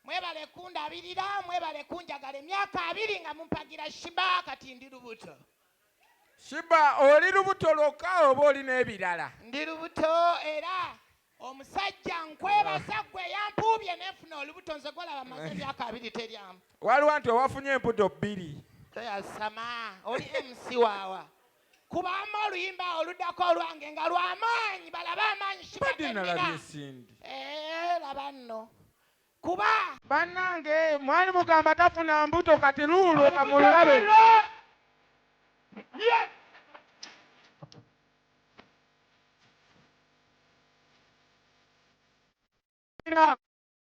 Mwebale kundabirira, mwebale kunjagala emyaka abiri nga mumpagira Shiba kati ndi lubuto. Shiba oli lubuto lwokka oba oli n'ebirala? Ndi lubuto era omusajja nkwebaza gwe yampuubye nefuna olubuto nze gwolaba maze emyaka abiri teryamu. Waliwo nti owafunye embuto bbiri. Toyasama oli MC waawa. Kubaamu oluyimba oluddako olwange nga lwa maanyi balabe amaanyi kibagenira. Eh, laba nno kuba bannange mwali mugamba tafuna mbuto kati luulwo kamulabe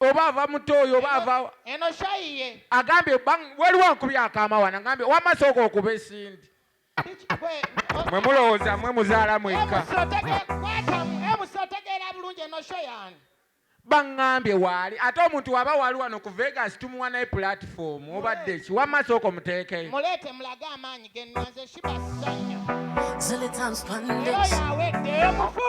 oba ava muto oyo oba avawa eno shayi ye agambye waliwo ankubye akamawana ngambye wama sooka okuba esindi mwe mulowooza mwe muzaala mwekka baŋŋambye waali ate omuntu waba waali wano ku vegas tumuwa naye pulatifomu obadde ki wamma sooka omuteekeyo muleete mulage amaanyi gennaze shibasanya zilitanspandeoyo awedde omufu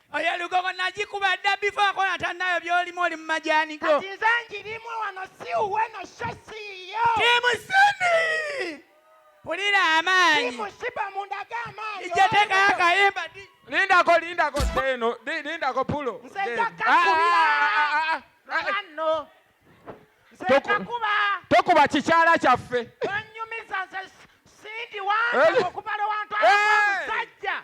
Oyo lugogo nagikuba dda before akola tanayo byolimu oli mu majani go. Kati nze njirimu wano si uwe no sho si yo. Timu Cindy. Pulira amaanyi. Timu Shiba mundaga amaanyi. Ije teka akayimba di. Lindako lindako seno lindako pulo. Nze njaka ah, kubira. Ah, ah, Ano. Nze njakuba. Tokuba kikyala kyaffe. Onyumiza nze Cindy wange eh. okubala wantu amusajja.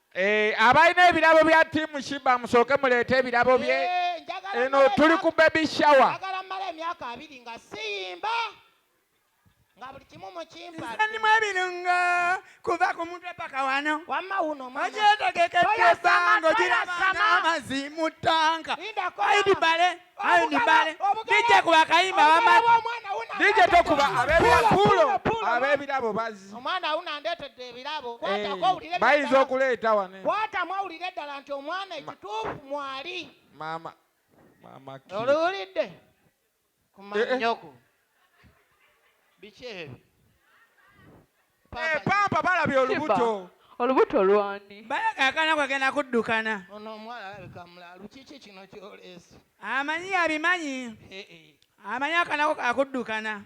Eh, abalina ebirabo bya tiimu shiba musooke muleete ebirabo bye eh, eno tuli ku baby shower nsanimu ebirungo kuva ku mutwe paka wano ogyetegekedde esango girabanga amazzi mu ttanka aidibale ayo ni bale dije kuba kayimba wama dije tokuba abebirakulo abebirabo bazi omwana awuna andetedde ebirabo eh, kwatako owulire bayinza okuleeta wane kwatamu awulire eddala nti omwana ekituufu mwali mama mama oluwulidde kumanyoko eh, eh. biki ebyo Eh, pampa balabye olubuto olubuto lwani bayagakana kwegenda kuddukana ono omuwala alabika mulaalu kiki kino kyoleese amanyi yabimanyi eh, eh. amanyi akanako kakuddukana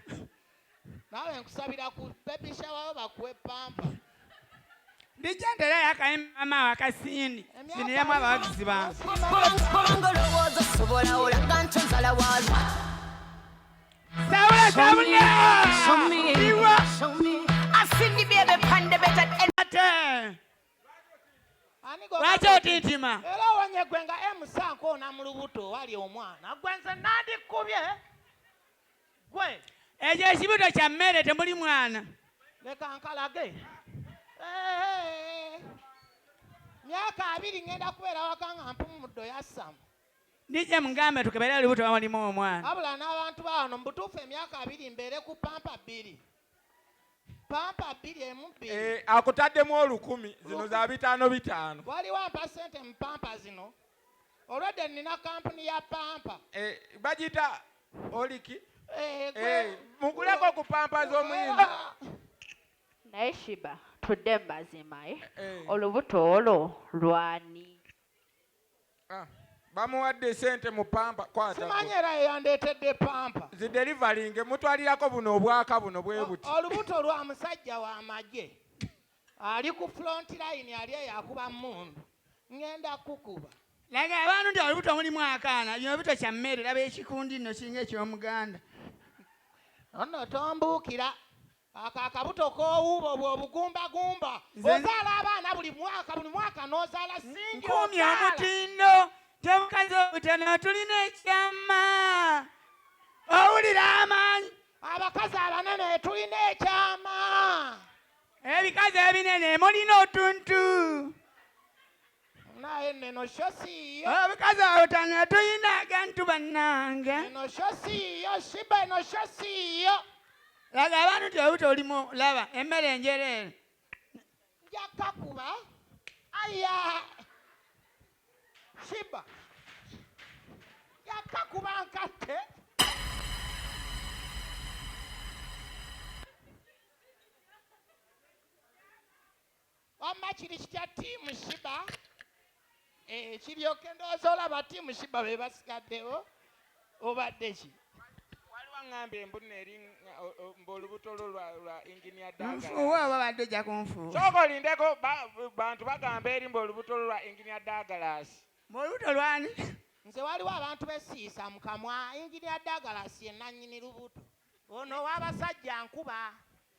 naawe nkusabira ku bebishawawo bakuwe pampa ndijja ntera yakayi mama wakasindi ndiniramu abawagizi bange lwaki otintima era owonye gwe nga emusanka ona mu lubuto wali omwana gwe nze nandikubye gwe ekyo ekibuto kya mmere temuli mwana leka nkalage myaka abiri ngenda kubeera waka nga mpumuddo yassamu Ndijja mugambe tukebere olubuto bamulima omwana. Wabula n'abantu bawano mubutuufu emyaka abiri mbeere ku pampa bbiri pampa bbiri emu bbiri eh, akutaddemu olukumi zino za bitaano bitaano. Waliwo ampa ssente mu pampa zino olwedde nnina kampuni ya pampa eh, bagita oliki eh, muguleko ku pampa z'omuyimbi ah. naye shiba tudde mu mazima olubuto olwo lwani Ah, bamuwadde sente mu pampa kwata simanyi era yeyandeetedde pampa zidelivalinge mutwalirako buno obwaka buno bwe buti olubuto lwa musajja wa magye ali ku front line ali eyo akuba mundu ngenda kukuba laga abantu nti olubuto mulimu akaana bino bito kya mmere laba ekikundi nno kiringa eky'omuganda ono tombuukira Ako akabuto kowuuba obwo obugumba gumba ozaala abaana buli mwaka buli mwaka nozaala singi nkomye omutindo tebukazi obutana tulina ekyama owulira amaanyi abakazi abanene tulina ekyama ebikazi ebinene mulina otuntu naye neno sho siyo obukazi awo tano tuyina agantu bannange neno sho siyo shiba eno sho siyo laga abantu ti obuto olimu laba emmere enjereere njakkakuba aya shiba njakkakuba nkatte Wamma kiri kitya team shiba eh, kiryoke ndowooza olaba team shiba be basigaddewo obadde ki waliwo aŋŋambye mbunna eri mbaolubuto lwo lwa enginia danganfuuwe oba badde ojja kunfuuwa sooka olindeko bantu bagamba eri mbaolubuto lwo lwa enginia dagalasi mbaolubuto lwani nze waliwo abantu besiisa mu kamwa enginia dagalasi enanyini lubuto ono ow'abasajja nkuba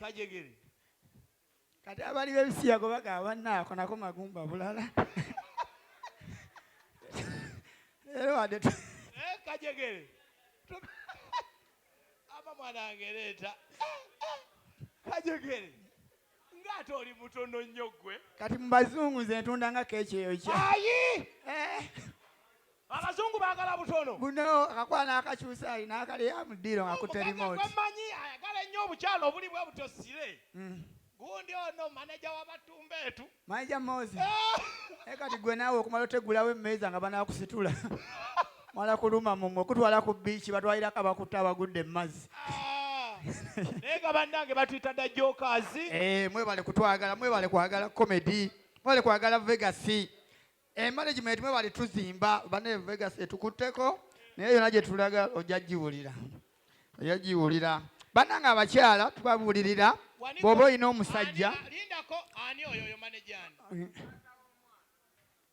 kajegere kati abali bebisiyago bagaba naako nako magumba bulala era wadde eh, kajegere ama mwanange leeta eh, eh, kajegere nga ate oli mutono nnyo gwe kati mu bazungu nze ntunda nga keeki eyo kya ayi eh. abazungu bagala butono buno akakwana akakyusa alina akali ya mudiiro nga kutte remote manyi ayagala ennyo obukyalo obuli bwe butyo sire mm. gundi ono maneja wabatumba etu maneja mozi eh. naye kati gwe naawe okumala otegulawo emmeeza nga banakusitula mala kuluma mumwe kutwala ku biiki batwalirako abakutte abagudde mu mazzi ah, naye nga bannange batuyita dda jokazi eh, mwebale kutwagala mwebale kwagala comedy mwebale kwagala vegasi emanagement eh, mwebale tuzimba bane vegasi etukutteko naye yona gye tulaga ojja giwulira ojja giwulira bannange abakyala tubabuulirira bw'oba olina omusajja lindako ani oyo oyo manejani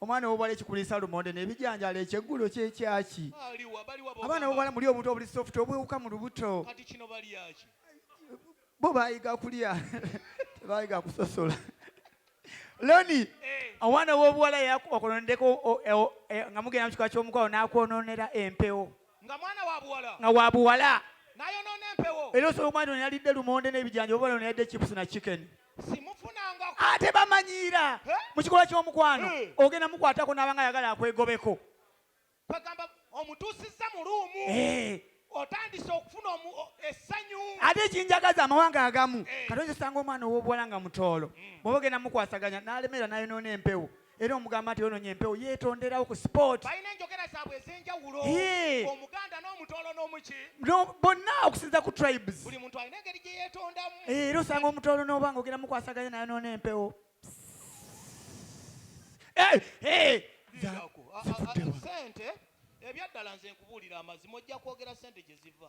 omwana wobwala ekikulisa lumonde nebijanjala ekyeggulo kyekyaki abaana bobwala muli obuntu obuli soft obwewuka mu lubuto bo bayiga kulya tebayiga kusosola loni eh. omwana wobuwala yakubakononedeko eh, nga mugenda mukika kyomukwalo nakwononera empewo nga wabuwala era osobola omwana ono yalidde lumonde nebijanja obubala ono yadde chips na chicken ate bamanyiira eh? mu kikolwa ky'omukwano eh. ogenda mukwatako n'abanga ayagala akwegobeko bagamba omutuusizza mu luumu eh. otandise okufuna essanyu ate ekinjagaza amawanga agamu kati oyinza osanga omwana ow'obuwala nga mutoolo hmm. bwoba ogenda mukwasaganya n'alemera n'ayonoona empewo era omugamba nti ononye empewo yetonderawo ku sport balina enjogera zaabwe ez'enjawulo omuganda n'omutoolo n'omuki bonna okusinza ku tribes buli muntu alina engeri gye yeetondamu era osanga omutoolo n'oba nga ogenda mukwasaganya naye noona empewo sente ebyaddala nze nkubuulira amazima ojja kwogera sente gye ziva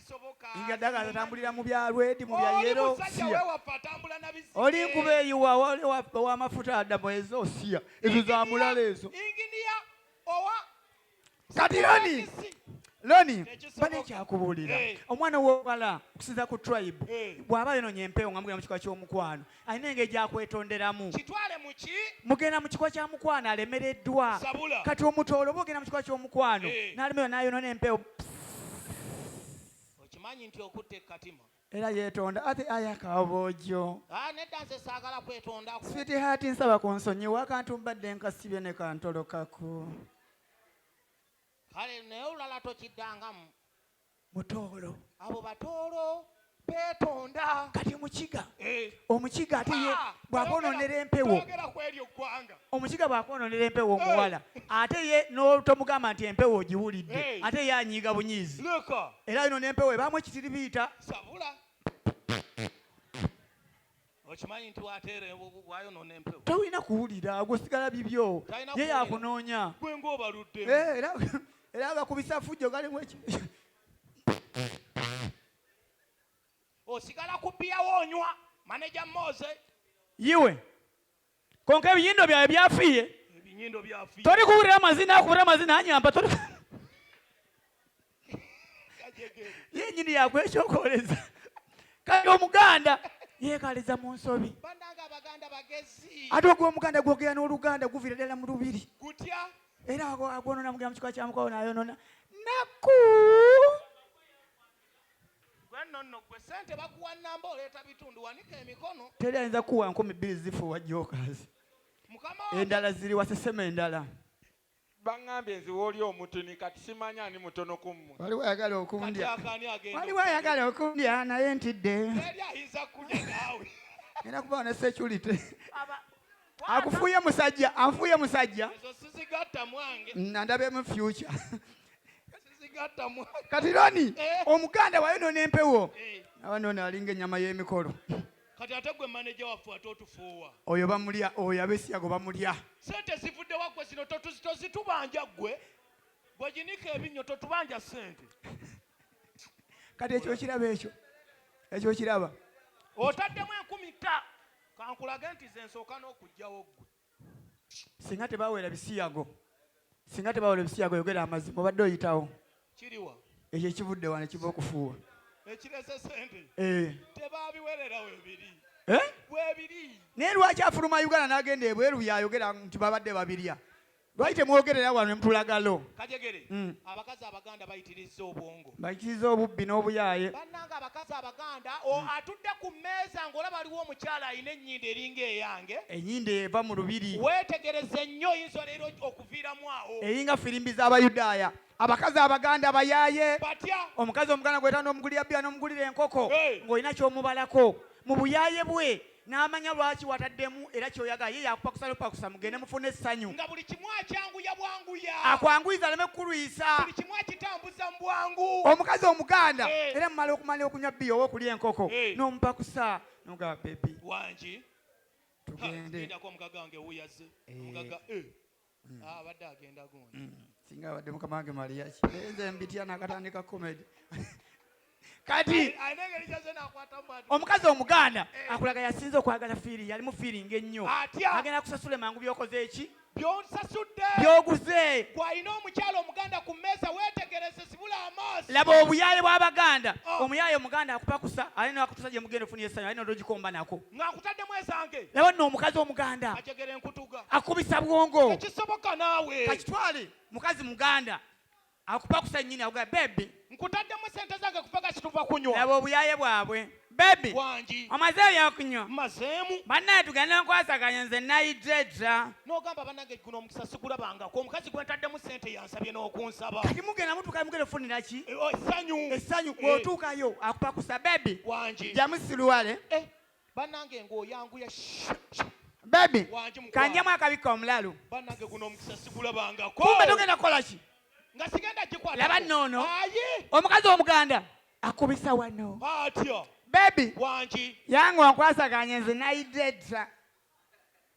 Inja dagala atambulira mu bya rwedi mu bya yero siya oli nkuba eyo wa mafuta adamu ezo siya ezo za mulala ezo kati loni loni bane ekyakubuulira omwana wobala okusinza ku tribe bw'aba yononye empewo nga mugenda mu kika ky'omukwano alina engeri gyakwetonderamu kitwale muki mugenda mu kikuba kya mukwano alemereddwa Sabula. kati omutoolo oba ogenda mu kikuba ky'omukwano Eh. n'alemerwa n'ayonona empewo okimanyi nti okutta ekkatima era yeetonda ate aya kabojo Ah, nedda nze saagala kwetondako switi haati nsaba ku nsonyiwa akantu mbadde nkasibye ne kantolokako kale naye olulala tokiddangamu mutoolo abo batoolo beetonda kati mukiga eh. omukiga ate ye ah, bwakononera empewo omukiga bwakononera empewo eh. omuwala ate ye notomugamba nti empewo ogiwulidde eh. ate ye anyiiga bunyiizi era ino nempewo ebamu ekitiribiita Okimanyi nti wateera wayonona empewo. Tolina kuwulira gwe sigala bibyo. Ye yakunoonya. Gwe ng'obaludde. Eh, era era abakubisa fujjo galimu eki. Osigala ku bbiya w'onywa maneja Moze. Yiwe konka ebinyindo byawe byafiye tori kuwurira amazina akuwurira amazina anyamba tori yenyini yakwekyokoreza kati omuganda yekaliza mu nsobi ate ogwo omuganda gwogera n'oluganda guvira ddala mu lubiri era agwonona mugera mu kika kyamukwawo nayonona naku Gwe nonno gwe sente bakuwa namba oleeta bitundu wanika emikono. Teri ayinza kukuwa nkumi bbiri zifuuwa jokers. Endala ziriwa sesema endala. Bangambye nziwa oli omutini kati simanyi ani mutono ku mmwe. Waliwo ayagala okundya. Waliwo ayagala okundya naye ntidde. Teri ayinza kulya naawe. Ngenda kubawa ne security. akufuuye musajja anfuuye musajja nandabemu future kati loni eh. omuganda wayo nona empewo eh. aba nona alinga enyama y'emikolo kati ate gwe maneja waffe ate otufuuwa oyo bamulya oyo abesiyago bamulya sente zivudde waggwe zino tozitubanja ggwe bweginika ebinnyo totubanja sente kati ekyo kiraba ekyo ekyo kiraba otaddemu enkumi ta Ka nkulage nti nze nsooka n'okuggyawo ggwe. Singa tebaawera bisiyago, singa tebaawera bisiyago, yogera amazima, obadde oyitawo. Kiriwa? Ekyo ekivudde wano kiva okufuuwa. Ekirese sente? Eh. Tebaabiwerera webiri. Eh? Webiri. Naye lwaki afuluma Uganda n'agenda ebweru y'ayogera nti babadde babirya? Lwaki temwogerera wano ne mutulaga lo? Kajegere, mm. abakazi abaganda bayitirizza obwongo. Bayitirizza obubbi n'obuyaaye. Bannange abakazi abaganda mm. atudde ku mmeeza ng'olaba aliwo omukyala alina ennyindo eringa eyange. Ennyindo eva mu lubiri. Weetegereze nnyo oyinza leero okuviiramu awo. Eringa firimbi z'Abayudaaya. Abakazi abaganda bayaaye. Batya? Omukazi omuganda gwetana n'omugulira bbiya n'omugulira enkoko ng'olina ky'omubalako. Mu buyaaye bwe n'amanya lwaki wataddemu era ky'oyagala ye yakupa kusalupakusa mugende mufune essanyu nga buli kimu akyanguya bwanguya akwanguyiza aleme kukulwisa buli kimu akitambuza mu bwangu omukazi omuganda Eh. era mumala okumala okunywa bbiya oba okulya enkoko Eh. n'omupakusa nogaba bebi wangi tugende ndako omugaga wange wuyaze Eh. omugaga eh. mm. ah, abadde agenda gundi mm. singa abadde mukama wange maliya kienze mbitya nakatandika comedy kati omukazi omuganda eh. akulaga yasinze okwagala fiiri yalimu fiiringa ennyo agenda kusasula emangu byokoze eki byonsasudde byoguze gwalina omukyalo omuganda ku mmeeza weetegereze sibula amaaso laba obuyaye bw'abaganda oh. omuyaye omuganda akupakusa alina akutusa gye mugenda ofuna esanyu alina odogikomba nako nga nkutaddemu ezange laba nno omukazi omuganda ajegera enkutuga akubisa bwongo ekisoboka naawe kakitwale mukazi muganda akupakusa nyini akuga bebi nkutaddemu sente zange kupaga kituva kunywa laba obuyaye bwabwe bebi wangi omaze ebyakunywa mazeemu bannaye tugenda nkwasaganya nze nayidde dda n'ogamba banange guno omukisa sigulabangako omukazi gwentaddemu sente yange sabye n'okunsaba kati mugenda mutuuka mugenda ofunira ki eh, oh, essanyu essanyu eh. bw'otuukayo akupa ku sabebi wangi jamusiruwale eh, bannange ng'oyanguya bebi kanjemu akabikka omulalu bannange guno omukisa sigulabangako kumbe togenda kukola ki nga sigenda gikwata laba noono omukazi omuganda akubisa wano atyo bebi wangi yange onkwasaganya nze nayidde dda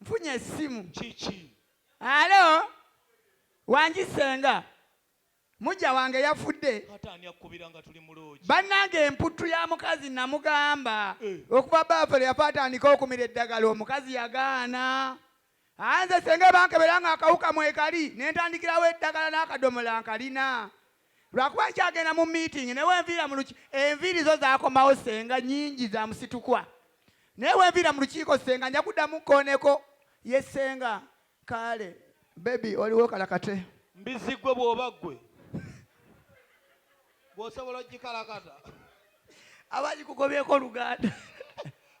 Mfunye essimu. Kiki? Alo, wangi senga. Mujja wange yafudde. Kata ani akkubira nga tuli mu loogi? Bannange emputtu ya mukazi namugamba eh. okuva baafere yafa atandika okumira eddagala omukazi yagaana. Anze senga bankebera nga akawuka mwekali nentandikirawo eddagala n'akadomola nkalina. Lwakuba nkyagenda mu meeting naye wenviira mu luki enviiri zo zakomawo senga nyingi za musitukwa naye wenviira mu lukiiko senga nja kuddamu nkooneko ye senga kaale baby oliwo kalakate. Mbizzi gwe bwoba gwe bwosobola ogikalakata. abagikugobyeko oluganda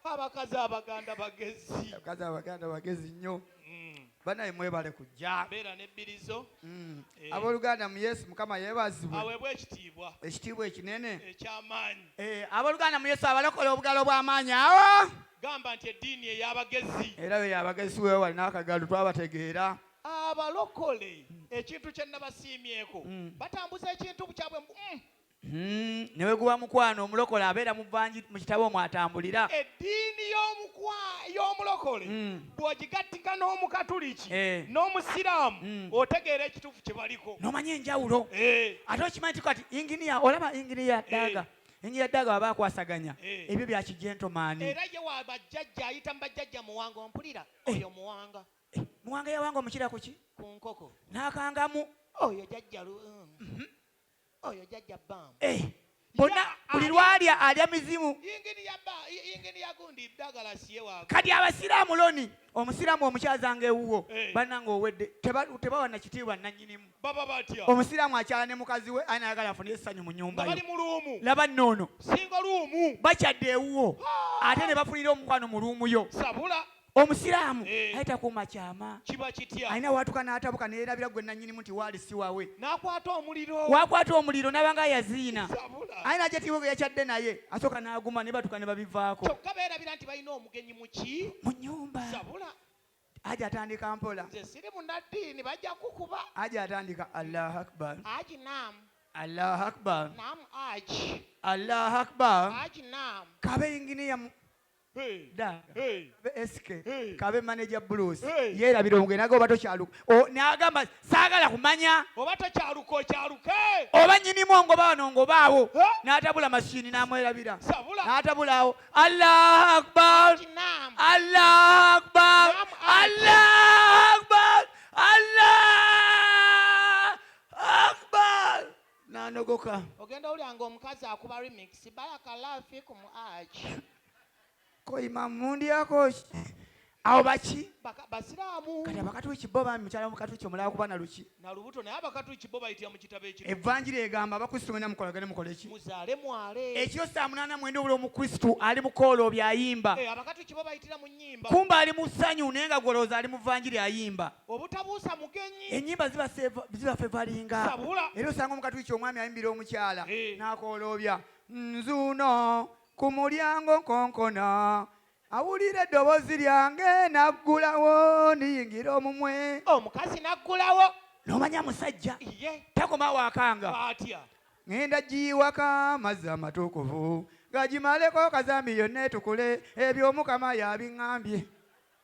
abakazi abaganda bagezi abakazi abaganda bagezi nnyo mm. banaye mwebale kujja beera nebbirizo mm. eh. aboluganda mu yesu mukama yebazibwe awebwe ekitiibwa ekitiibwa ekinene ekyamaanyi eh, aboluganda mu yesu abalokola obugalo bw'amaanyi awo gamba nti eddiini ey'abagezi era be yabagezi wewali n'akagalu twabategeera abalokole ekintu kye nabasiimyeko mm. batambuza ekintu kyabwe mm. Hmm, ne bwe guba mukwano omulokole abeera mu bangi mu kitabo omwo atambulira eddiini y'omulokole hmm. bw'ogigattika n'omukatuliki eh. n'omusiraamu hmm. otegeera ekituufu kye baliko n'omanya enjawulo eh. ate okimanyi ti kati inginiya olaba inginiya daaga eh. enjira ddaga waba akwasaganya eh. ebyo bya kijentomaani era ye wa bajjajja ayita mu bajjajja muwanga ompulira eh. oyo muwanga eh, muwanga yawanga omukira kuki ku nkoko n'akangamu oyo jajjalu mm. mhm. oyo jajja bam eh bona buli lwalya alya mizimu kati abasiraamu loni omusiraamu omukyazanga ewuwo eh. bananga owedde tebawa nakitiibwa nanyinimu omusiraamu akyala ne mukazi we anayagala afune essanyu mu nyumba laba noono bakyadde ewuwo ate ne bafunira omukwano mu luumuyo omusiraamu eh. naye takuuma kyama kiba kitya alina waatuka n'atabuka neerabira gwe nannyinimu nti waali si wawe n'akwata omuliro waakwata omuliro n'abanga yaziina aye najatiwo ge yakyadde naye asooka n'aguma ne batuka ne babivaako kyokka beerabira nti balina omugenyi muki mu nnyumba sabula aji atandika mpola nze siri munaddiini bajja kukuba aji atandika allahu akbar aji nam allahu akbar nam aji allahu akbar aji nam kabe inginiya kabe manager blues yerabira omugenyi naga oba tokyaluka nagamba saagala kumanya oba tokyaluka okyaluke oba nyinimu ongoba wano ngobaawo n'atabula mashini n'amwerabira n'atabulaawo allahu akbar allahu akbar allahu akbar allah nanogoka ogenda owulira nga omukazi akuba remix barakallahu fikum aj koima mundyako awo baki Baka- basiraamu kati abakatuki bo bami mukyala mukatuki omulala kuba naluki nalubuto naye abakatuki bo bayitira mu kitabo ekyo evanjiri egamba abakristu mwena mukolagane mukoleki muzaale mwale ekiro saa munaana mwenda obula omukristu ali mukooloobi ayimba Eh, abakatuki bo bayitira mu nyimba kumba ali mu ssanyu naye nga gwolowooza ali mu vanjiri ayimba obutabuusa mugenyi enyimba ziba fevalinga era osanga omukatuliki omwami ayimbira omukyala eh. nakooloobya nzuuno ku mulyango nkonkona awulira eddoboozi lyange naggulawo niyingira omumwe omukazi naggulawo nomanya musajja takoma wakanga ŋenda giyiwaka amazzi amatuukuvu gagimaleko kazambi yonna etukule ebyo omukama yabiŋambye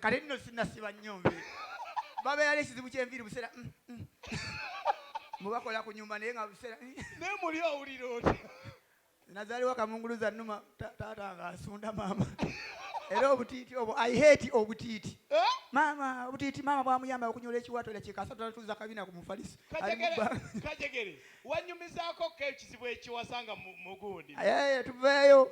kale nno sinasiba nnyo nvi babeera n'ekizibu ky'enviiri buseera mm, mm. mubakola ku nyumba naye nga buseera mm. naye muli owulira oti nazaliwa kamunguluza numa taata nga asunda maama era obutiiti obwo i hate obutiiti eh? maama obutiiti maama bwamuyamba okunyola ekiwato era kyekasatulatuza kabina ku mufaliso kajegere Wanyumizako ko ekizibu ekiwasa nga mugundi. Eh, tuveeyo.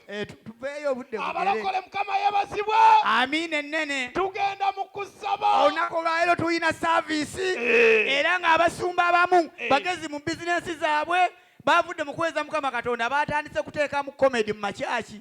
Eh, tuveeyo obudde abalokole mukama yebazibwe amiina ennene tugenda mu kusaba olunaku olwaleero tulina saaviisi eh. era ng'abasumba abamu eh. bagezi mu bizinensi zaabwe bavudde mu kuweeza mukama katonda baatandise kuteekamu komedi mu makyaki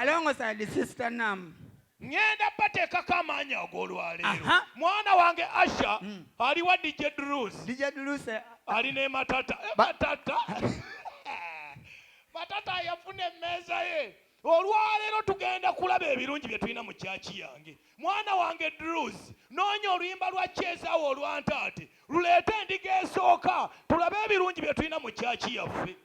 alongosa the sister nam ngenda bateekako amaanyi ag'olwaleero mwana wange asha mm. aliwa dj drus dj drus eh, ali ne matata eh, matata matata yafuna emmeeza ye olwaleero tugenda kulaba ebirungi bye tulina mu kyaki yange mwana wange drus noonya oluyimba lwa kyezaawo olwantaate luleete endiga esooka tulabe ebirungi bye tulina mu kyaki yaffe